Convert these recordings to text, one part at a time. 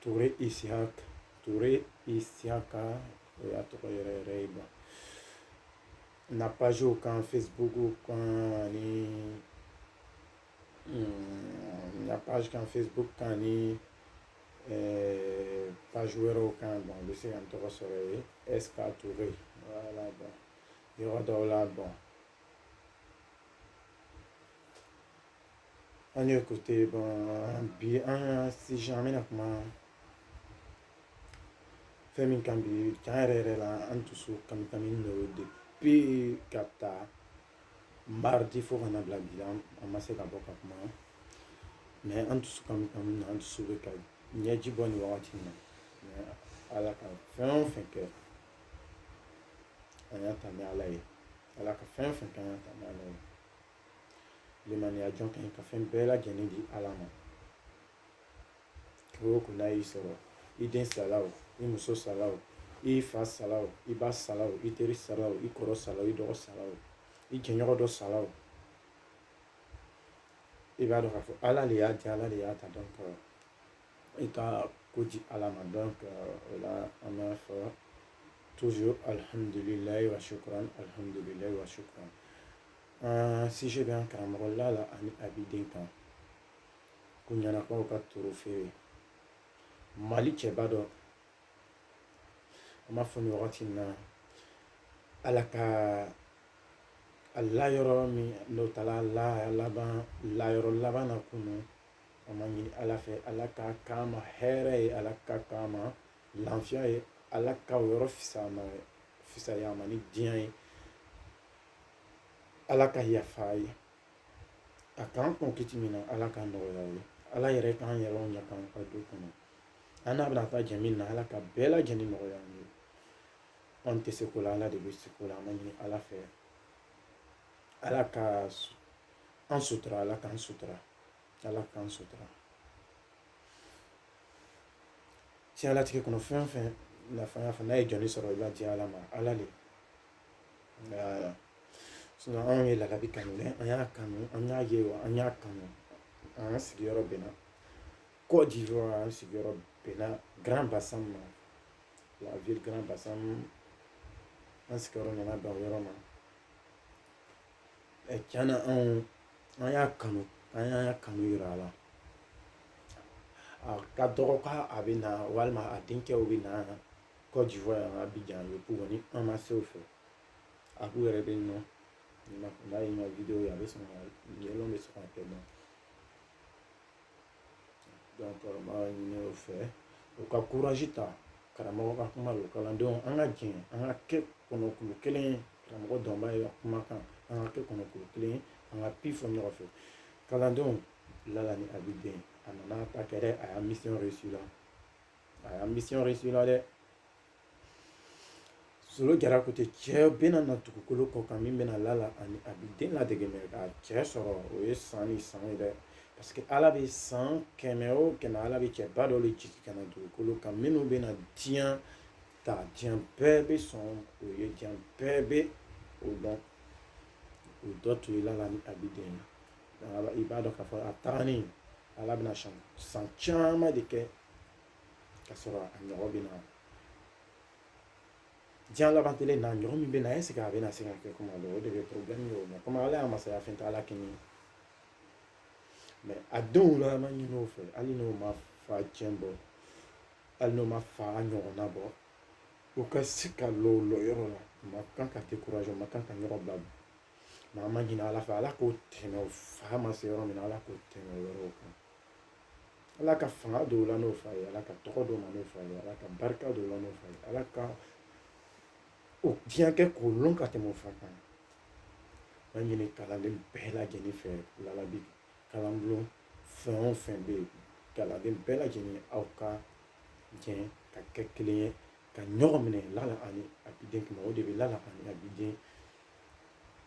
Ture Isiaka Ture Isiaka o y'a tɔgɔ yɛrɛ yɛrɛ ye bon na pagew kan Facebook kan ani mm, na page kan Facebook kan ani eh, page wɛrɛw kan bon u bɛ se ka n tɔgɔ sɔrɔ yen SK Ture voilà bon yɔrɔ dɔw la bon An ye écouter bon bi an ka sujet an bɛna kuma fɛn min kan bi tiɲɛ yɛrɛ yɛrɛ la an dusu kami kami de ye depuis k'a ta mardi fo ka na bila bi la an ma se ka bɔ ka kuma mais an dusu kami kami na an dusu bɛ ka ɲɛji bɔ nin wagati in na mais ala ka fɛn o fɛn kɛ an y'a ta ni ala ye ala ka fɛn o fɛn kɛ an y'a ta ni ala ye limaniya jɔn ka ɲi ka fɛn bɛɛ lajɛlen di ala ma ko o ko n'a y'i sɔrɔ i den sala o i muso sala o i fa sala o i ba sala o i teri sala o i kɔrɔ sala o i dɔgɔ sala o i jɛɲɔgɔn dɔ sala o i b'a dɔn k'a fɔ ala de y'a di ala de y'a ta donc i ka ko di ala ma donc o la an b'a fɔ toujours alhamdulilayi wa shukran alhamdulilayi wa shukran Sujet bɛ an karamɔgɔ Lala ani Abidin kan ko ɲanakaw ka toro feere mali cɛba dɔ an b'a fɔ nin wagati in na ala ka a layɔrɔ min n'o taara la laban layɔrɔ laban na kunu an b'a ɲini ala fɛ ala ka k'a ma hɛrɛ ye ala ka k'a ma lafiya ye ala ka yɔrɔ fisaya ma ni diɲɛ ye ala ka yafa a ye a k'an kɔn kiti min na ala k'a nɔgɔya a ye ala yɛrɛ k'an yɛrɛ ɲɛ k'an ka du kɔnɔ an n'a bɛna taa jɛ min na ala ka bɛɛ lajɛlen nɔgɔya an ye an tɛ se ko la ala de bɛ se ko la an b'a ɲini ala fɛ ala ka an sutura ala k'an sutura ala k'an sutura diɲɛlatigɛ kɔnɔ fɛn o fɛn nafa y'a fɔ n'a ye jɔni sɔrɔ i b'a di ala ma ala de anw ye Lalabi kanu dɛ an y'a kanu an y'a ye wa an y'a kanu an ka sigiyɔrɔ bɛnna Côte d'Ivoire an sigiyɔrɔ bɛnna Grand Bassam ma la ville Grand Bassam an sigiyɔrɔ nana bɛn o yɔrɔ ma ɛ tiɲɛ na anw an y'a kanu an y'a kanu yira a la a ka dɔgɔ k'a a bɛ na walima a denkɛw bɛ na Côte d'Ivoire yan Abidjan Yopougon ni an ma se o fɛ a k'u yɛrɛ bɛ nɔ n'a ye n ka video ye a bɛ sɔn ka yɛlɛw bɛ sɔn ka kɛ nɔ donc n b'a ɲini o fɛ u ka courage ta karamɔgɔ ka kuma don kalandenw an ka jɛn an ka kɛ kɔnɔkulu kelen ye karamɔgɔ dɔnba ye ka kuma kan an ka kɛ kɔnɔkulu kelen ye an ka pi fɔ ɲɔgɔn fɛ kalandenw lala ni abiden a nana ta kɛ dɛ a y'a mission réussi la a y'a mission réussi la dɛ solo jara ko ten cɛ bɛna na dugukolo kɔ kan min bɛna lala ani abiden ladege mɛ k'a cɛ sɔrɔ o ye san ni san ye dɛ parce que ala bɛ san kɛmɛ o kɛmɛ ala bɛ cɛba dɔ de jigin ka na dugukolo kan minnu bɛna diɲɛ ta diɲɛ bɛɛ bɛ sɔn o ye diɲɛ bɛɛ bɛ o dɔn o dɔ tun ye lala ni abiden na i b'a dɔn k'a fɔ a tagalen ala bɛna san caman de kɛ ka sɔrɔ a ɲɔgɔn bɛ na diɲɛ laban kelen na ɲɔgɔn min bɛ na ɛseke a bɛna se ka kɛ kuma dɔ o de bɛ porobilɛmu ye o ma komi ala ya masaya fɛn tɛ ala kɛɲɛ mɛ a denw la an b'a ɲini o fɛ hali n'o ma fa tiɲɛ bɔ hali n'o ma fa ɲɔgɔnna bɔ u ka se ka lɔ lɔyɔrɔ la u ma kan ka dekuraze u ma kan ka ɲɔgɔn bila mɛ an b'a ɲini ala fɛ ala k'o tɛmɛ o fa ma se yɔrɔ min na ala k'o tɛmɛ o yɔrɔw kan ala ka fanga don u la n'o fa ye ala ka tɔgɔ d'u ma n'o fa ye ala ka barika don u la n'o fa ye ala ka o diɲɛ kɛ k'o lɔn ka tɛmɛ o fa kan an b'a ɲini kalanden bɛɛ lajɛlen fɛ lala abi kalanbulon fɛn o fɛn bɛ yen kalanden bɛɛ lajɛlen aw ka jɛn ka kɛ kelen ye ka ɲɔgɔn minɛ lala ani abiden kama o de bɛ lala ani abiden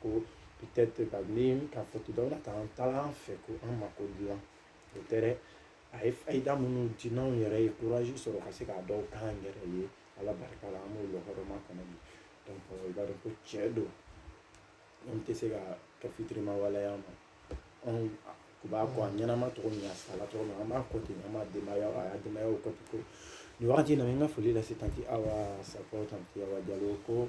ko peut-être ka ni ka foto dɔ la ka an taara an fɛ ko an mako dilan o tɛ dɛ a ye fayida minnu di n'anw yɛrɛ ye kurazi sɔrɔ ka se ka dɔ k'an yɛrɛ ye ala barika la an b'o lɔgɔrɔma kɔnɔ bi donc i b'a dɔn ko tiɲɛ don an tɛ se ka kɛ fitiriwale y'a ma anw tun b'a kɔ a ɲɛnama cogo min a sala cogo min an b'a kɔ ten an b'a denbaya a ya denbayaw kɔ ten ko nin wagati in na n ka foli lase tanti awa sakɔ tanti awa jalo ko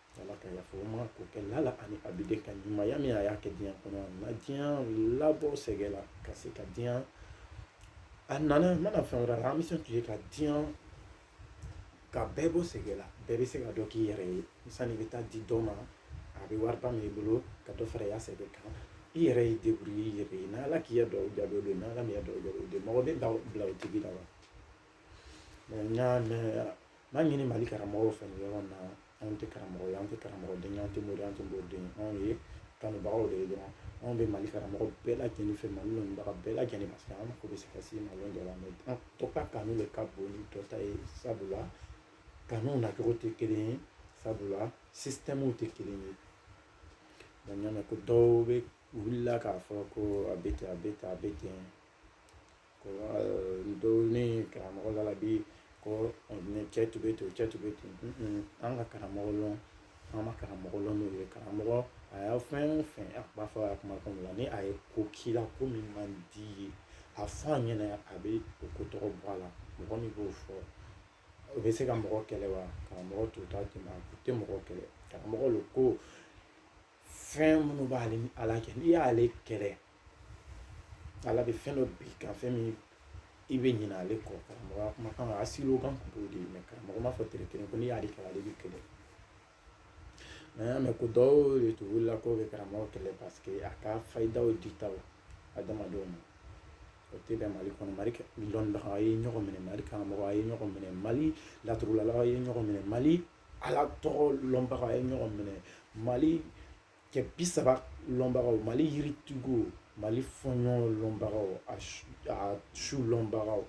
ala ka yafa o ma k'o kɛ lala ani abiden ka ɲumanya min a y'a kɛ diɲɛ kɔnɔ a ma diɲɛ labɔ sɛgɛ la ka se ka diɲɛ a nana a ma na fɛn wɛrɛ la ambition tun ye ka diɲɛ ka bɛɛ bɔ sɛgɛ la bɛɛ bɛ se ka dɔ k'i yɛrɛ ye sani i bɛ taa di dɔ ma a bɛ wari ba min i bolo ka dɔ fara i ya sɛbɛn kan i yɛrɛ y'i deburuye i yɛrɛ ye n'ala k'i ya duwa jaabi o don n'ala m'i ya duwa jaabi o don mɔgɔ bɛ bila o tigi la wa n y'a mɛn n b'a ɲini mali karamɔgɔw fɛ nin yɔrɔ in na anw tɛ karamɔgɔ ye an tɛ karamɔgɔ den an tɛ mori an tɛ mori den anw ye kanubagaw de ye dɔrɔn anw bɛ mali karamɔgɔ bɛɛ lajɛlen fɛ mali lɔnnibaga bɛɛ lajɛlen parce que an mako bɛ se ka se mali dɔ la an dɔ ka kanu de ka bon ni dɔ ta ye sabula kanuw nacogo tɛ kelen ye sabula sisitɛmuw tɛ kelen ye donc n y'a mɛn ko dɔw bɛ wulila k'a fɔ ko a bɛ ten a bɛ ten a bɛ ten ko dɔw karamɔgɔ la bi ko cɛ tun bɛ ten cɛ tun bɛ ten an ka karamɔgɔ lɔn an ma karamɔgɔ lɔn n'o ye karamɔgɔ a y'a fɛn o fɛn a b'a fɔ a kuma kɔnɔna na ni a ye ko k'i la ko min man di ye a fɔ a ɲɛna a bɛ o ko tɔgɔ bɔ a la mɔgɔ min b'o fɔ o bɛ se ka mɔgɔ kɛlɛ wa karamɔgɔ t'o ta ten a tɛ mɔgɔ kɛlɛ karamɔgɔ don ko fɛn minnu b'ale ni ala cɛ n'i y'ale kɛlɛ ala bɛ fɛn dɔ bin i kan fɛn min i bɛ ɲinɛ ale kɔ karamɔgɔ kuma kan a siriw kan kun t'o de ye karamɔgɔ m'a fɔ tere kelen ko n'i y'ale kɛlɛ ale b'i kɛlɛ mɛ an y'a mɛn ko dɔw de tun wulila k'o bɛ karamɔgɔ kɛlɛ paseke a ka fayidaw ditaw adamadenw ma o tɛ bɛn mali kɔnɔ mali lɔnnibaga a ye ɲɔgɔn minɛ mali karamɔgɔ a ye ɲɔgɔn minɛ mali laturulala a ye ɲɔgɔn minɛ mali ala tɔgɔ lɔnbaga a ye ɲɔgɔn minɛ mali cɛ bi saba lɔnbagaw mali yiritigiw mali fɔɲɔ lɔnbagaw a su lɔnbagaw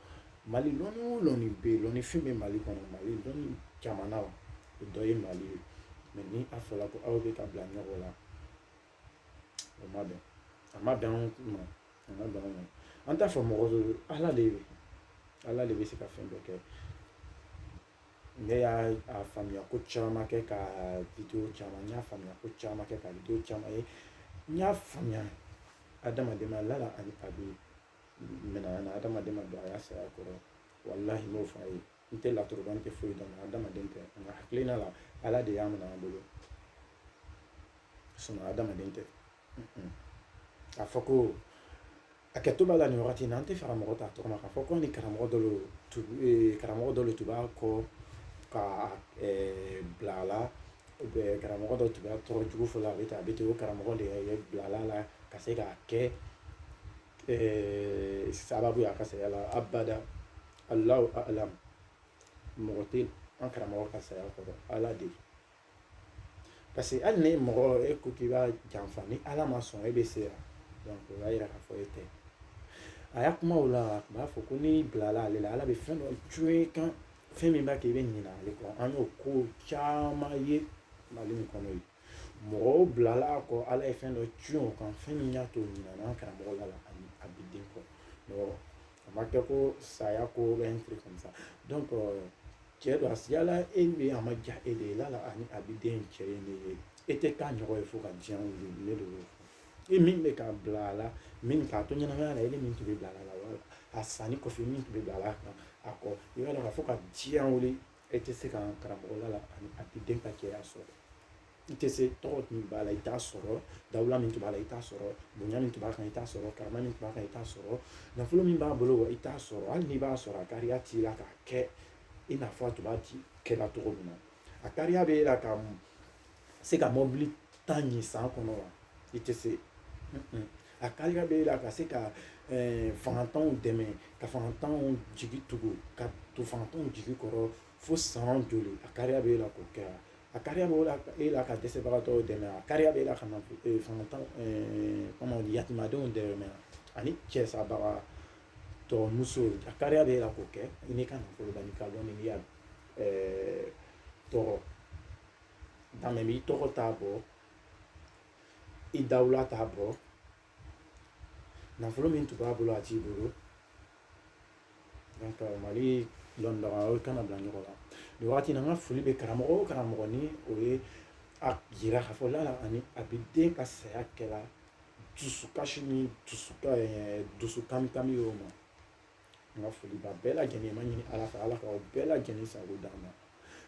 mali lɔnni o lɔnni bɛ yen lɔnni fin bɛ mali kɔnɔ mali lɔnni jamana o dɔ ye mali ye mɛ ni a fɔra ko aw bɛ ka bila ɲɔgɔn la o ma bɛn a ma bɛn anw ma a ma bɛn anw ma an t'a fɔ mɔgɔ don ala de bɛ ala de bɛ se ka fɛn bɛɛ kɛ Ne y'a faamuya ko caman kɛ ka video caman n y'a faamuya ko caman kɛ ka video caman ye n y'a faamuya adamaden ma lala ani abi minɛna na adamaden ma don a ya saya kɔrɔ walahi n b'o fɔ a ye n tɛ laturu bɔ n tɛ foyi dɔn adamaden tɛ n ka hakilina la ala de y'a minɛ an bolo sinɔn adamaden tɛ k'a fɔ ko hakɛto b'a la nin wagati na an tɛ fara mɔgɔ ta tɔgɔ ma k'a fɔ ko ni karamɔgɔ dɔ eh, karamɔgɔ dɔ tun b'a kɔ ka eh, bila a la karamɔgɔ dɔ tun b'a tɔgɔ jugu fɔ la a bɛ ten a bɛ ten o karamɔgɔ de ye bila a la ka se k'a kɛ eh, sababu ye a ka saya la abada alahu alam mɔgɔ tɛ an karamɔgɔ ka saya kɔrɔ ala de ye parce que hali ni mɔgɔ e ko k'i b'a janfa ni ala ma sɔn e bɛ se yan donc o b'a yira k'a fɔ e tɛ a ya kuma o la a tun b'a fɔ ko n'i bilala ale la ala bɛ fɛn dɔ cun i kan fɛn min b'a kɛ i bɛ ɲinɛ ale kɔ an y'o ko caman ye mali in kɔnɔ yen mɔgɔw bilala a kɔ ala ye fɛn dɔ tiɲɛ o kan fɛn min y'a to ɲinana karamɔgɔ la ani a bɛ den kɔ a ma kɛ ko saya ko bɛ n fili comme ça cɛ don a sigiyala e min a ma ja e de ye lala ani abiden cɛ ye ne ye e tɛ k'a ɲɔgɔn ye fo ka diɲɛ wuli ne de y'o fɔ e min bɛ k'a bila a la min k'a to ɲɛnamaya la e ni min tun bɛ bila a la wala a sanni kɔfɛ min tun bɛ bila a la kan a kɔ i b'a dɔn k'a fɔ ka diɲɛ wuli e tɛ se ka karamɔgɔ lala ani abiden ka cɛya sɔrɔ i tɛ se tɔgɔ min b'a la i t'a sɔrɔ dawula min tun b'a la i t'a sɔrɔ bonya min tun b'a kan i t'a sɔrɔ karama min tun b'a kan i t'a sɔrɔ nafolo min b'a bolo wa i t'a sɔrɔ hali n'i b'a sɔrɔ a kariya t'i la k'a kɛ i n'a fɔ a tun b'a kɛla cogo min na a kariya b'e la ka se ka mɔbili tan ni san kɔnɔ wa i tɛ se a kariya b'e la ka se ka fangatanw dɛmɛ ka fangatanw jigi tugu ka to fangatanw jigi kɔrɔ fo san joli a kariya bɛ e la k'o kɛ a kariya bɛ e la ka dɛsɛbagatɔw dɛmɛ a kariya bɛ e la ka na fangatanw yatimadenw dɛmɛ ani cɛsabagatɔ muso a kariya bɛ e la k'o kɛ i n'i ka nafolo la n'i ka dɔn n'i y'a tɔgɔ dame b'i tɔgɔ t'a bɔ i dawula t'a bɔ nafolo min tun b'a bolo a t'i bolo mali lɔnnibagaw kana bila ɲɔgɔn na nin wagati in na n ka foli bɛ karamɔgɔ o karamɔgɔ ni o ye a jira k'a fɔ lala ani abiden ka saya kɛra dusukasi ni dusukami y'o ma n ka foli b'a bɛɛ lajɛlen ma ɲini ala fɛ ala ka bɛɛ lajɛlen sago d'a ma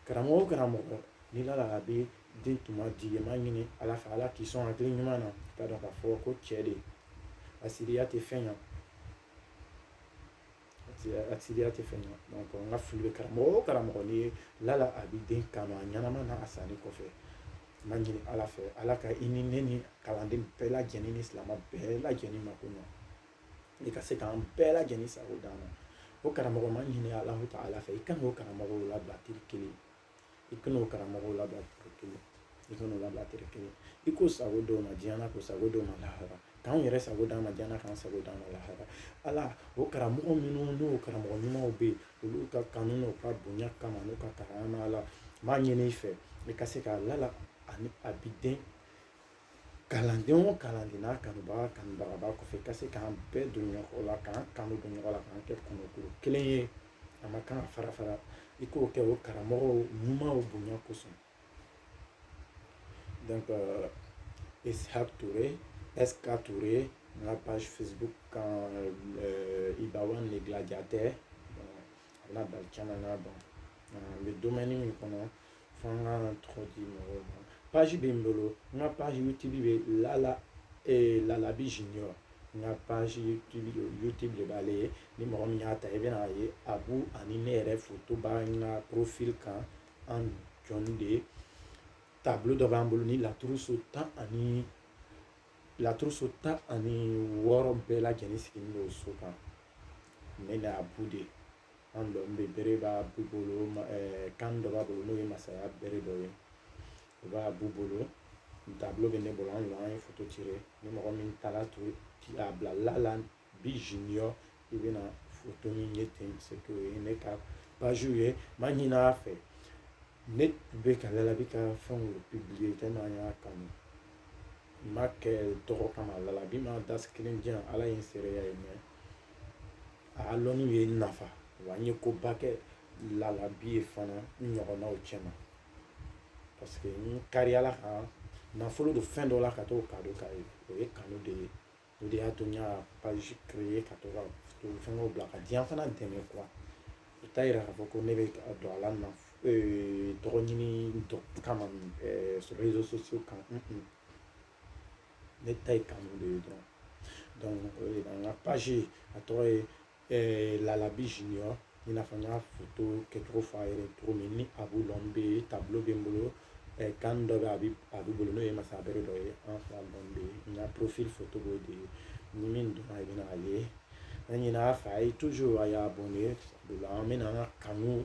karamɔgɔ o karamɔgɔ ni lala abiden tun man di ye n b'a ɲini ala fɛ ala k'i sɔn hakili ɲuman na k'a dɔn k'a fɔ ko cɛ de hasidiya tɛ fɛn ɲa hasidiya tɛ fɛn ɲa n ka foli bɛ karamɔgɔ o karamɔgɔ ni ye lala abiden kanu a ɲɛnama na a sanni kɔfɛ n b'a ɲini ala fɛ ala ka i ni ne ni kalanden bɛɛ lajɛlen ni silamɛ bɛɛ lajɛlen mako ɲa i ka se k'an bɛɛ lajɛlen sago d'an ma o karamɔgɔ n b'a ɲini ala taala fɛ i kan'o karamɔgɔw labila tile kelen i kan'o karamɔgɔw labila tile kelen i kan'o labila tile kelen i k'o sago d'o ma diɲɛ na k'o sago d'o ma lahara k'anw yɛrɛ sago d'an ma diɲɛ na k'an sago d'an ma lahara ala o karamɔgɔ minnu n'o karamɔgɔ ɲumanw bɛ yen olu ka kanu n'u ka bonya kama n'u ka karama la n b'a ɲini i fɛ i ka se ka lala ani abiden kalanden o kalanden n'a kanubaga kanubaga b'a kɔfɛ ka se k'an bɛɛ don ɲɔgɔn la k'an kanu don ɲɔgɔn la k'an kɛ kɔnɔkulu kelen ye an man kan ka fara fara i k'o kɛ o karamɔgɔw ɲumanw bonya kosɔn donc euh, Ishaq Touré SK Touré n ka page Facebook kan euh, Ibawan le gladiateur a bɛna bali caman na donc an bɛ domaine min kɔnɔ fo n ka tɔgɔ di mɔgɔw ma paji bɛ n bolo n ka paji YouTube bɛ lala ee lalabi junior n ka paji YouTube de b'ale ye ni mɔgɔ min y'a ta i bɛna ye Abu ani ne yɛrɛ foto b'an ka porofili kan an jɔn de ye tabolo dɔ b'an bolo ni laturuso tan ani wɔɔrɔ bɛɛ lajɛlen sigilen don so kan ne n'Abu de an dɔ bɛ bere b'Abu bolo canne dɔ b'a bolo n'o ye masaya bere dɔ ye o b'Abu bolo tableau bɛ ne bolo an an ye foto ci ni mɔgɔ min taara to a bila lalabi junior i bɛna foto min ye ten c'est que o ye ne ka paji ye n m'a ɲin'a fɛ ne bɛ ka lalabi ka fɛnw publier tellement an y'a kanu n m'a kɛ tɔgɔ kama lalabi ma dasi kelen di yan ala ye n seereya ye mais a lɔnniw ye n nafa wa n ye koba kɛ lalabi ye fana n ɲɔgɔnnaw cɛma parce que n kariyala kan nafolo don fɛn dɔ la ka t'o kado k'a ye o ye kanu de ye o de y'a to n y'a page créer ka to ka fɛngɛw bila ka diɲɛ fana dɛmɛ quoi o t'a yira k'a fɔ ko ne bɛ don a la na tɔgɔ ɲini kama réseaux sociaux kan ne ta ye kanu de ye dɔrɔn donc o de la n ka page a tɔgɔ ye eh, lalabi junior i n'a fɔ n y'a foto kɛcogo fɔ a yɛrɛ cogo min ni Abu lɔn bɛ tableau bɛ n bolo eh, canne dɔ bɛ a bɛ Abu bolo n'o ye masaya bere dɔ ye an fila lɔn bɛ yen n ka profil foto b'o de ye ni min donna i bɛna a ye an ɲin'a fɛ a ye toujours a y'a abonné o la an bɛna an ka kanu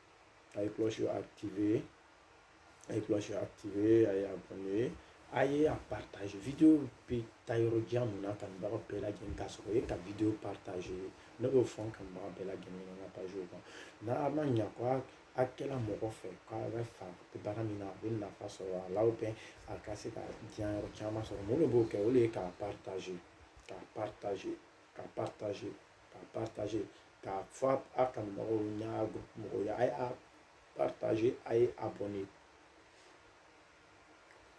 a ye cloche activer a ye cloche activer a ye abonné a ye a partage video bɛ taa yɔrɔ jan mun na kanubaga bɛɛ lajɛlen k'a sɔrɔ o ye ka video partage ne b'o fɔ n kanubaga bɛɛ lajɛlen ɲɛna n ka page kan n'a ma ɲa ko a kɛla mɔgɔ fɛ k'a bɛ fa baara min na a bɛ nafa sɔrɔ a la a ka se ka diɲɛ yɔrɔ caman sɔrɔ mun de b'o kɛ o de ye k'a partage k'a partage ka partager ka partager k'a fɔ a kanubagaw n'a mɔgɔw ye a ye a partager a ye abonné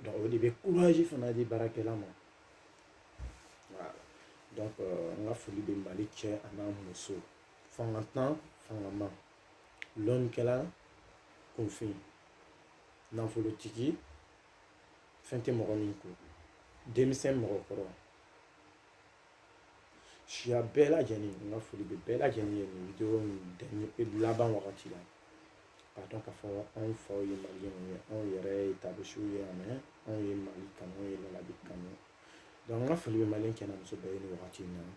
donc o de bɛ courage fana di baarakɛla ma donc euh, n ka foli bɛ mali cɛ an'a muso fangatan fangama lɔnnikɛla kunfin nafolotigi fɛn tɛ mɔgɔ min kun denmisɛn mɔgɔkɔrɔ Siya bɛɛ lajɛlen n ka foli bɛ bɛɛ lajɛlen ye nin video in laban wagati la k'a dɔn k'a fɔ anw faw ye maliyɛnw ye anw yɛrɛ ye taabisiw ye yan mais anw ye mali kanu ye lalabi kanu donc n ka foli bɛ maliyɛn cɛ n'a muso bɛɛ ye nin wagati in na n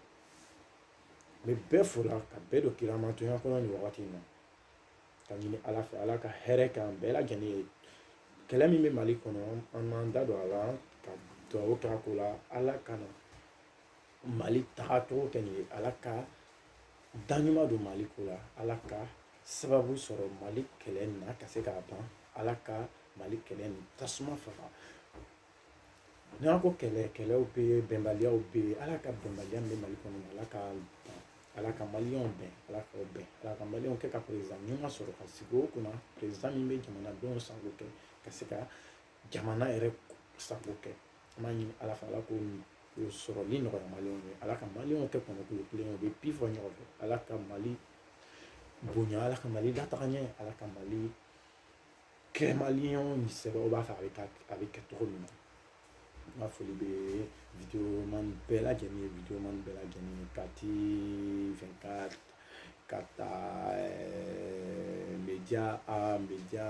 bɛ bɛɛ fo la ka bɛɛ don kiramantɔnya kɔnɔ nin wagati in na ka ɲini ala fɛ ala ka hɛrɛ k'an bɛɛ lajɛlen ye kɛlɛ min bɛ mali kɔnɔ an m'an da don a la ka dugawu k'a ko la ala kana mali tagacogo kɛ nin ye ala ka daɲuman don mali ko la ala ka sababu sɔrɔ mali kɛlɛ na ka se k'a ban ala ka mali kɛlɛ ni tasuma faga N'an ko kɛlɛ kɛlɛw bɛ yen bɛnbaliyaw bɛ yen ala ka bɛnbaliya min bɛ mali kɔnɔ ala k'a ban ala ka maliyɛnw bɛn ala k'u bɛn ala ka maliyɛnw kɛ ka président ɲuman sɔrɔ ka sigi o kunna président min bɛ jamanadenw sago kɛ ka se ka jamana yɛrɛ sago kɛ an b'a ɲini ala fɛ ala k'o sɔrɔli nɔgɔya maliyɛnw ye ala ka maliyɛnw kɛ kɔnɔkulu kelen ye u bɛ bi fɔ ɲɔgɔn fɛ ala ka mali bonya ala ka mali lataga ɲɛ ala ka mali kɛ maliyɛn sɛbɛw b'a fɛ a bɛ kɛ cogo min na n ka foli bɛ videoman bɛɛ lajɛlen ye videoman bɛɛ lajɛlen ye kati vingt-quatre ka taa media a media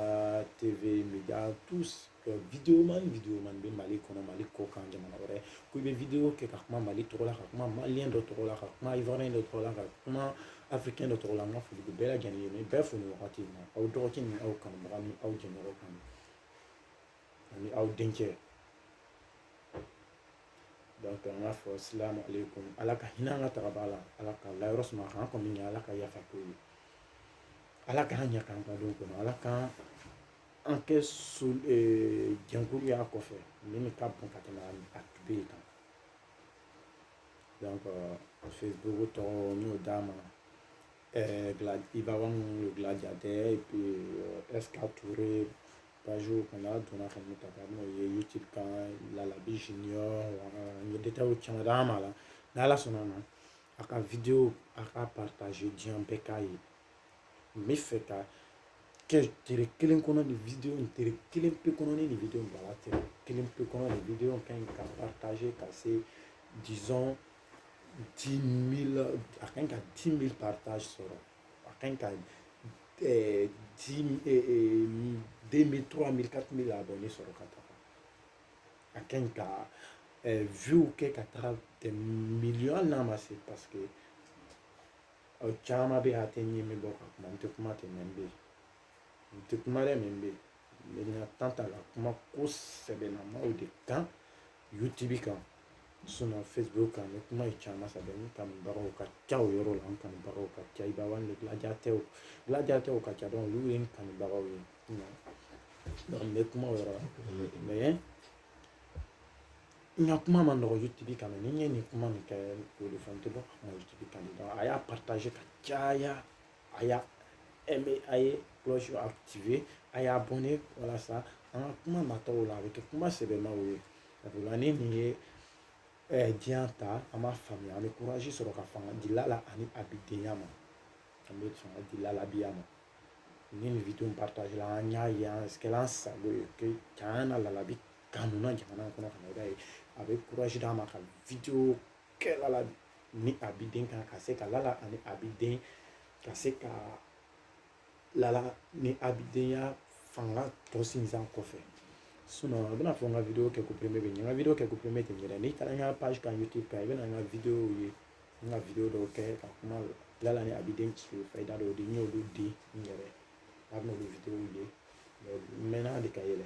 tv media tous videoman videoman bɛ mali kɔnɔ mali kɔ kan jamana wɛrɛ ko i bɛ video kɛ ka kuma mali tɔgɔ la ka kuma maliyɛn dɔ tɔgɔ la ka kuma ivoiriyɛn dɔ tɔgɔ la ka kuma afirikɛn dɔ tɔgɔ la n ka foli bɛ bɛɛ lajɛlen ye n bɛ bɛɛ fo nin wagati in na aw dɔgɔkɛ ni aw kanubaga ni aw jɛɲɔgɔn kan ani aw denkɛ donc n b'a fɔ salamu aleykum ala ka hinɛ an ka tagabaaw la ala ka layɔrɔ suma k'an kɔni ɲɛ ala ka yafa k'o ye ala k'an ɲɛ k'an ka don kɔnɔ ala k'an kɛ jɛnkulu y'a kɔfɛ min ka bon ka tɛmɛ a tun bɛ yen kan Facebook tɔgɔ n y'o d'a ma gilabaa minnu ye gila jate kɔnɔ a donna ka ta ka n'o ye caman d'a ma la n'ala sɔnna a ma a ka a ka diɲɛ bɛɛ k'a ye n bɛ fɛ ka kɛ tile kelen kɔnɔ nin video in tile kelen pe kɔnɔ ni nin video in bila tile kelen pe kɔnɔ nin video in ka ɲi ka partager ka se disons dix mille a ka ɲi ka dix mille partage sɔrɔ a ka ɲi ka eh, dix eh, eh, deux mille trois mille quatre mille abonné sɔrɔ ka taga a ka ɲi ka eh, view kɛ ka taga des millions hali n'a ma se parce que aw caman bɛ yen a tɛ ɲɛ min bɔ ka kuma n tɛ kuma dɛ mais n bɛ yen n tɛ kuma dɛ mais n bɛ yen n tan t'a la kuma ko sɛbɛlamaw de kan youtube kan facebook kan ni kuma ye caman sɛbɛn n kanubagaw ka ca o yɔrɔ la n kanubagaw ka ca iba one ni gladiateurw gladiateurw ka ca donc olu ye n kanubagaw ye n bɛ kuma o yɔrɔ la n ka kuma ma nɔgɔ youtube kan ni n ye nin kuma min kɛ o de fɔ n tɛ bɔ ka kuma youtube kan a y'a partaze ka caya a y'a aimé a ye cloche activé a y'abonné walasa an ka kuma nataw la a bɛ kɛ kuma sɛbɛmaw ye sabula ni nin ye ɛɛ diɲɛ ta an b'a faamuya an bɛ kurazi sɔrɔ ka fanga di lala ani abidenya ma an bɛ fanga di lalabiya ma ni nin video partazela an y'a ye an kɛla an sago ye que can na lalabi Kanuna jamana kɔnɔ ka na i b'a ye a bɛ kurazi d'a ma ka video kɛ lala ni abiden kan ka se ka lala ani abiden ka se ka lala ni abidenya fanga tɔ sinsin kɔfɛ sinon a bɛna fɔ n ka video kɛko premier bɛ nin ye n ka video kɛko premier tɛ nin ye dɛ n'i taara n ka page kan youtube kan i bɛna n ka video ye n ka video dɔw kɛ ka kuma lala ni abiden ci fayida dɔw di n y'olu di n yɛrɛ a bɛna olu video ye mɛ mɛnna de ka yɛlɛ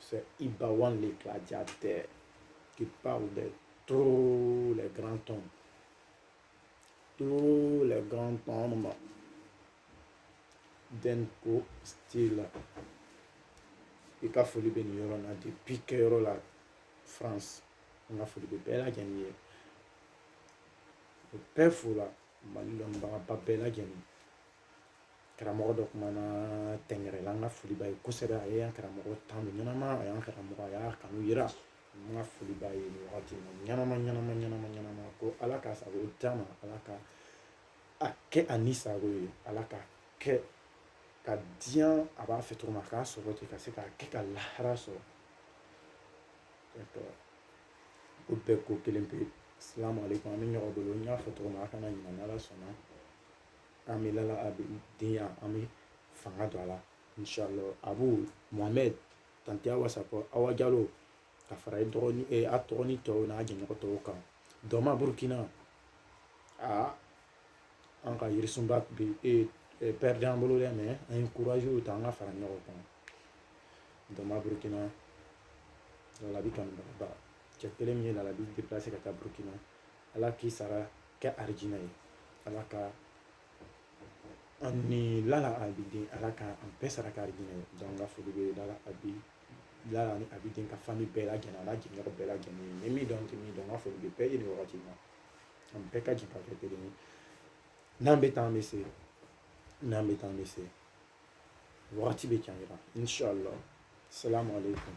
C'est Ibawan le gladiateur qui parle de tous les grands dɔma. Tous les grands dɔma de N'ko style. I ka foli bɛ nin yɔrɔ la depuis kɛyɔrɔ la France n ka foli bɛ bɛɛ lajɛlen ye o bɛɛ fo la Mali lɔnnibagaba bɛɛ lajɛlen karamɔgɔ dɔ kumana tɛngɛrɛla n ka foli b'a ye kosɛbɛ a ye an karamɔgɔ tanu ɲɛnama a y'an karamɔgɔ a y'a kanu yira n ka foli b'a ye nin wagati in na ɲɛnama ɲɛnama ɲɛnama ɲɛnama ko ala k'a sago d'a ma ala ka a kɛ a ni sago ye ala ka kɛ ka diɲɛ a b'a fɛ cogo min a k'a sɔrɔ ten ka se k'a kɛ ka lahara sɔrɔ o bɛɛ ko kelen pe salamu aleykum an bɛ ɲɔgɔn bolo n y'a fɔ cogo min na a kana ɲinɛ n'ala sɔnna an bɛ lala abidenya an bɛ fanga don a la inshallah abu mohamed tanti awa sako awa jalo ka fara dɔgɔnin e a tɔgɔ ni tɔw n'a jɛɲɔgɔn tɔw kan dɔma burukina aa an ka yirisunba bɛ e perdre an bolo dɛ mais an ye kurazi ta an ka fara ɲɔgɔn kan dɔma burukina lalabi kanubaa cɛ kelen min ye lalabi ka taa burukina ala k'i sara kɛ arijinɛ ye ala ka an ni lala abiden ala ka an bɛɛ sara kɛ arijinɛ ye donc n ka foli bɛ lalabi lala ni abiden ka famille bɛɛ lajɛlen a n'a jɛɲɔgɔn bɛɛ lajɛlen n ye min dɔn n tɛ min dɔn n ka foli bɛ bɛɛ ye nin wagati in na an bɛɛ ka jɛ ka kɛ kelen ye n'an bɛ taa an bɛ se n'an bɛ taa an bɛ se wagati bɛ can yira inshallah salamu aleykum